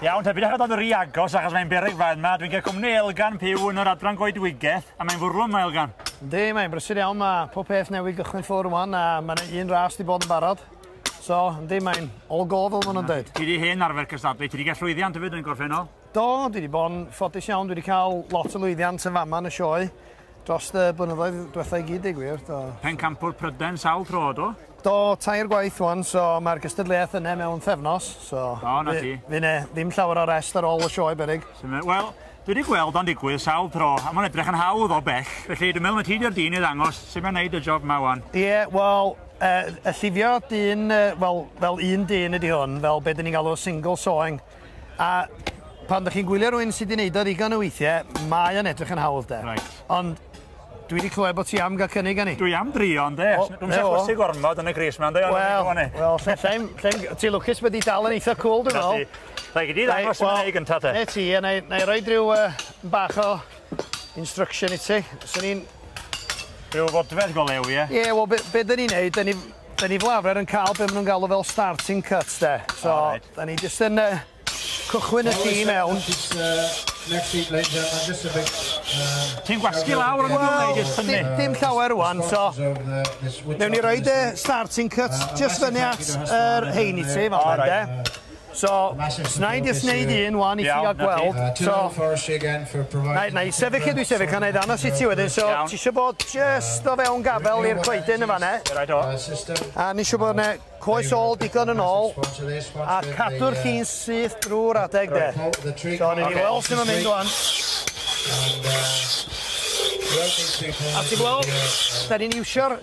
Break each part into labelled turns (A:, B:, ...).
A: Iawn, te, bydych yn rhi agos achos mae'n bereg fan yma. Dwi'n cael cwmni Elgan Piw yn yr adran goedwigeth a mae'n fwrw yma, Elgan. Yndi, mae'n brysur
B: iawn. Mae pob peth newydd gychwyn ffwrdd rwan a mae'n un ras di bod yn barod. So, yndi, mae'n all go fel maen nhw'n dweud. Ti wedi hen arfer cystadlu,
A: ti wedi cael llwyddiant hefyd yn gorffennol? Do, dwi wedi bod yn
B: ffodus iawn, dwi wedi cael lot o lwyddiant yn fama yn y sioe. Dros y blynyddoedd dwetha i gyd deu gwir, do. Pencampwr Prydain
A: sawl tro do? Do, tair
B: gwaith wan, so mae'r gystadleuaeth yne mewn pthefnos, so... O, na ti. Fy ne,
A: ddim llawer o
B: rest ar ôl y sioe berig. Wel, dwi wedi
A: gweld o'n digwydd sawl tro, a mae'n edrych yn hawdd o bell, felly dwi'n meddwl na ti di'r dyn i ddangos sut mae'n neud y job ma wan. Ie, yeah, wel,
B: uh, y llifio dyn, uh, wel, fel un dyn ydy hwn, fel beth dyn ni'n galw single sawing. A pan ydych chi'n gwylio rhywun sydd wedi gwneud o ddigon o weithiau, mae o'n edrych yn hawdd de. Right. Ond dwi wedi clywed bod ti am gael cynnig gan i. Dwi am drio ynddo.
A: Dwi'n siarad gwsig gormod yn y gris yma ynddo. Wel, wel, lle'n,
B: lle'n, ti lwcus bod i dal yn eitha cool dwi'n meddwl. Rhaid i di ddangos
A: yn ei gyntaf te. Ne ti, a na i roi
B: rhyw bach o instruction i ti. Swn i'n
A: Rhyw fodfedd go lew, ie? Ie, wel, be, be dyn ni'n
B: neud, dyn ni, 'Da ni fel arfer yn cael be' ma' nhw'n galw fel starting cut 'de. So, 'da ni jyst yn yy cychwyn y ci i mewn.
A: Ti'n gwasgu lawr yn fama neu jyst tynnu? Dim dim llawer rŵan
B: so newn ni roid y starting cut jyst fyny at yr rhein i ti fel 'na 'de. So, na i jyst wneud un wan i chi a gweld, so, na, na i sefyll lle dwi sefyll a na i ddanos i ti wedyn, so, ti eisiau bod jyst o fewn gafel i'r coedyn yn fanna, a ni eisiau bod yna coes ôl digon yn ôl, a cadw'r chi'n syth drwy'r adeg de. So, ni wedi weld sy'n o'n mynd wan. A ti gweld, da ni'n iwsio'r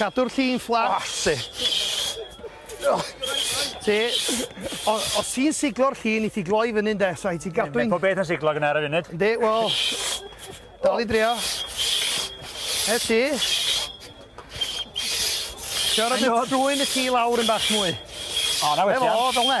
B: Cadw'r lli'n fflat, ti. Ti, os ti'n siglo'r lli, ni ti gloi fyny, de, so i ti gadw'n... Mae pob beth yn siglo gyda ar y
A: funud. Yndi, wel,
B: dal i drio. E ti. Ti'n rhaid trwy'n y lli lawr yn bach mwy. O, na wedi.
A: Efo, fel ne.